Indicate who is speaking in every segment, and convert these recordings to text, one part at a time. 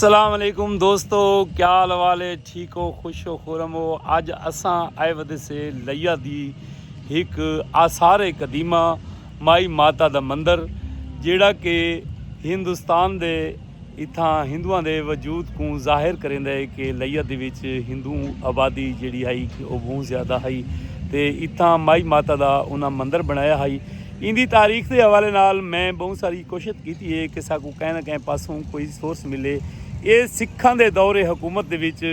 Speaker 1: السلام علیکم دوستو کیا حال والے ٹھیک ہو خوش ہو خورم ہو اج اساں آئے ودے سے لیا دی ایک آثار قدیمہ مائی ماتا دا مندر جیڑا کہ ہندوستان دے اتھاں ہندوؤں دے وجود کو ظاہر کریں دے کہ لیا دی وچ ہندو آبادی جیڑی ہائی کہ وہ بہت زیادہ ہائی تے اتھاں مائی ماتا دا انہاں مندر بنایا ہائی ایندی تاریخ دے حوالے نال میں بہوں ساری کوشت کیتی ہے کہ ساکوں کہیں نہ کہیں پاسوں کوئی سورس ملے۔ ایہ سکھاں دے دور حکومت دے وچ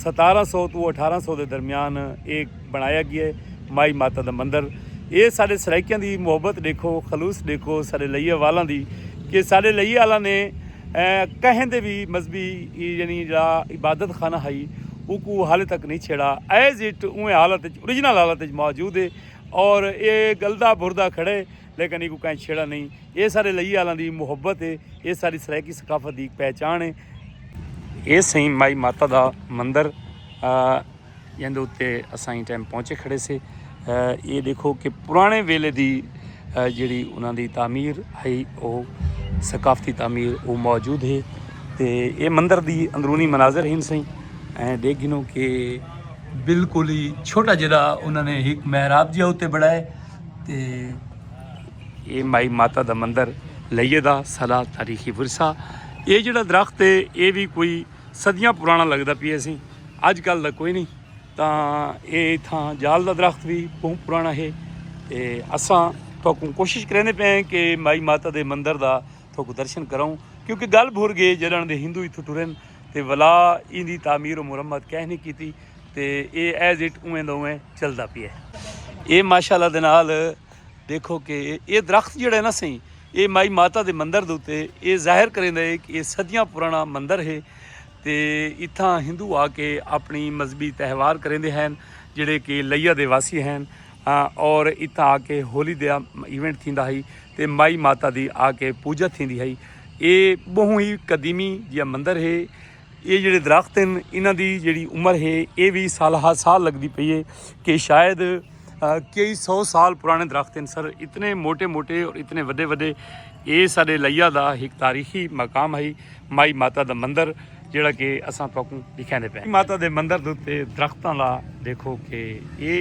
Speaker 1: ستارہ سو توں اٹھارہ سو دے درمیان ایہ بݨایا ڳیے۔ مائی ماتا دا مندر ایہ ساݙے سرائیکیاں دی محبت ݙیکھو، خلوص ݙیکھو ساݙے لئیے والاں دی کہ ساݙے لئیے آلاں نے کہیں دے وی مذہبی یعنی جیڑھا عبادت خانہ ہئی اوکوں حالے تک نئیں چھیڑا ایز اٹ اونویں حالت وچ اوریجنل حالت وچ موجود ہے۔ اور اے گلدا بھردا کھڑے لیکن ایکوں کائیں چھیڑا نئیں۔ اے ساڈے لئی آلاں دی محبت اے۔ اے ساڈی سرائیکی ثقافت دی ہک پہچان اے۔ اے سئیں مائی ماتا دا مندر جیندے اتے اساں ایں ٹائم پہنچے کھڑے سے۔ اے ڈیکھو کہ پرانے ویلے دی جیڑھی انہاں دی تعمیر ہئی او ثقافتی تعمیر او موجود ہے۔ تے اے مندر دی اندرونی مناظر ہن سئیں۔ ایں ڈیکھ گھنوں کہ۔ بالکل ہی چھوٹا جڑا انہوں نے ایک محراب جہاں اتنے بڑھائے تے یہ مائی ماتا دا مندر لئیے دا سلا تاریخی ورثہ یہ جڑا درخت ہے یہ بھی کوئی صدیاں پرانا لگتا پی اسی اج کل دا کوئی نہیں تا یہ اتھاں جال دا درخت بھی بہت پرانا ہے تے اساں تو کوشش کرنے پہ ہیں کہ مائی ماتا دے مندر دا تھوکو درشن کراؤں کیونکہ گل بھر گئے جلن دے ہندو اتھو ٹرن تے ولا این دی تعمیر و مرمت کہہ نہیں کیتی تے اے ایز اٹ اویں دا اویں چلدا پیا اے ماشاءاللہ دے نال دیکھو کہ اے درخت جڑا ہے نا سہی اے مائی ماتا دے مندر دے تے اے ظاہر کریندا ہے کہ اے صدیاں پرانا مندر ہے تے اتھاں ہندو آ کے اپنی مذہبی تہوار کریندے ہیں جڑے کہ لیا دے واسی ہیں اور اتھاں آ کے ہولی دا ایونٹ تھیندا ہئی تے مائی ماتا دی آ کے پوجا تھیندی ہئی اے بہوں ہی قدیمی جیہا مندر ہے اے جیڑے درخت ہن انہاں دی جیڑی عمر ہے اے وی سال ہا سال لگدی پئی ہے کہ شاید کئی سو سال پرانے درخت ہن سر اتنے موٹے موٹے اور اتنے وڈے وڈے اے ساڈے لیا دا ہک تاریخی مقام ہئی مائی ماتا دا مندر جیڑا کہ اساں تہاکوں ڈکھیندے پئے ہیں۔ ماتا دے مندر دے اتے درختاں دا ڈیکھو کہ اے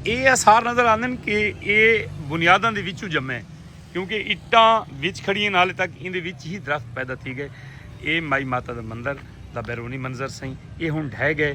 Speaker 1: اے آثار نظر آندن کہ اے بنیاداں دے وچوں جمے کیونکہ اٹاں وچ کھڑی ہن حالے تک ایندے وچ ہی درخت پیدا تھی گئے۔ اے مائی ماتا دے مندر دا بیرونی منظر سئیں۔ اے ہن ڈھہہ گئے۔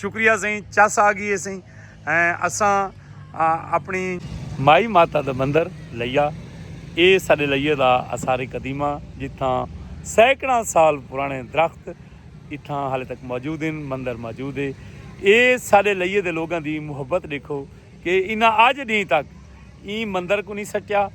Speaker 1: شکریہ سائیں چس آ گئی ہے سائیں اساں اپنی مائی ماتا دا مندر لیا اے ساڈے لئیے دا آثار قدیمہ جتھاں سینکڑاں سال پرانے درخت اتھاں حالے تک موجود ہیں مندر موجود ہے اے ساڈے لئیے دے لوگاں دی محبت دیکھو کہ انہاں اج ڈینہہ تک ایں مندر کوں نی سٹیا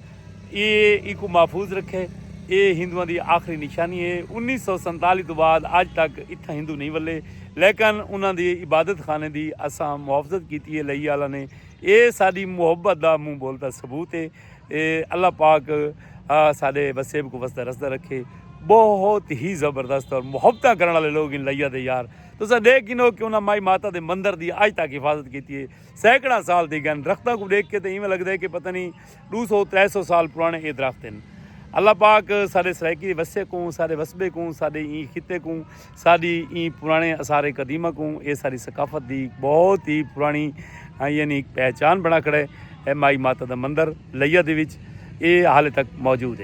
Speaker 1: اے اینکوں محفوظ رکھے اے ہندواں دی آخری نشانی اے انیس سو سنتالی توں بعد اج تک اتھاں ہندو نی ولے لیکن انہاں دے عبادت خانے دی اساں محافظت کیتی اے لئی آلا نے اے ساڈی محبت دا منہ بول دا ثبوت اے اے اللہ پاک ساڈے وسیب کوں وسدا رسدا رکھے بہت ہی زبردست اور محبتاں کرن والے لوگ ان لئی آ دے یار تساں ڈیکھ گھنو کہ انہاں مائی ماتا دے مندر دی اج تک حفاظت کیتی اے۔ سینکڑاں سال دی گن درختاں کو ڈیکھ کے تے ایویں لگدا ہے کہ پتہ نہیں ڈو سو ترے سو سال پرانے اے درخت ہیں اللہ پاک سارے سرائیکی وسے کوں سارے وسبے کوں سارے این خطے کوں ساری این پرانے اثار قدیمہ کوں اے ساری ثقافت دی بہت ہی پرانی ہاں، یعنی ایک پہچان بنا کھڑے ہے مائی ماتا دا مندر لیا دے وچ اے حال تک موجود ہے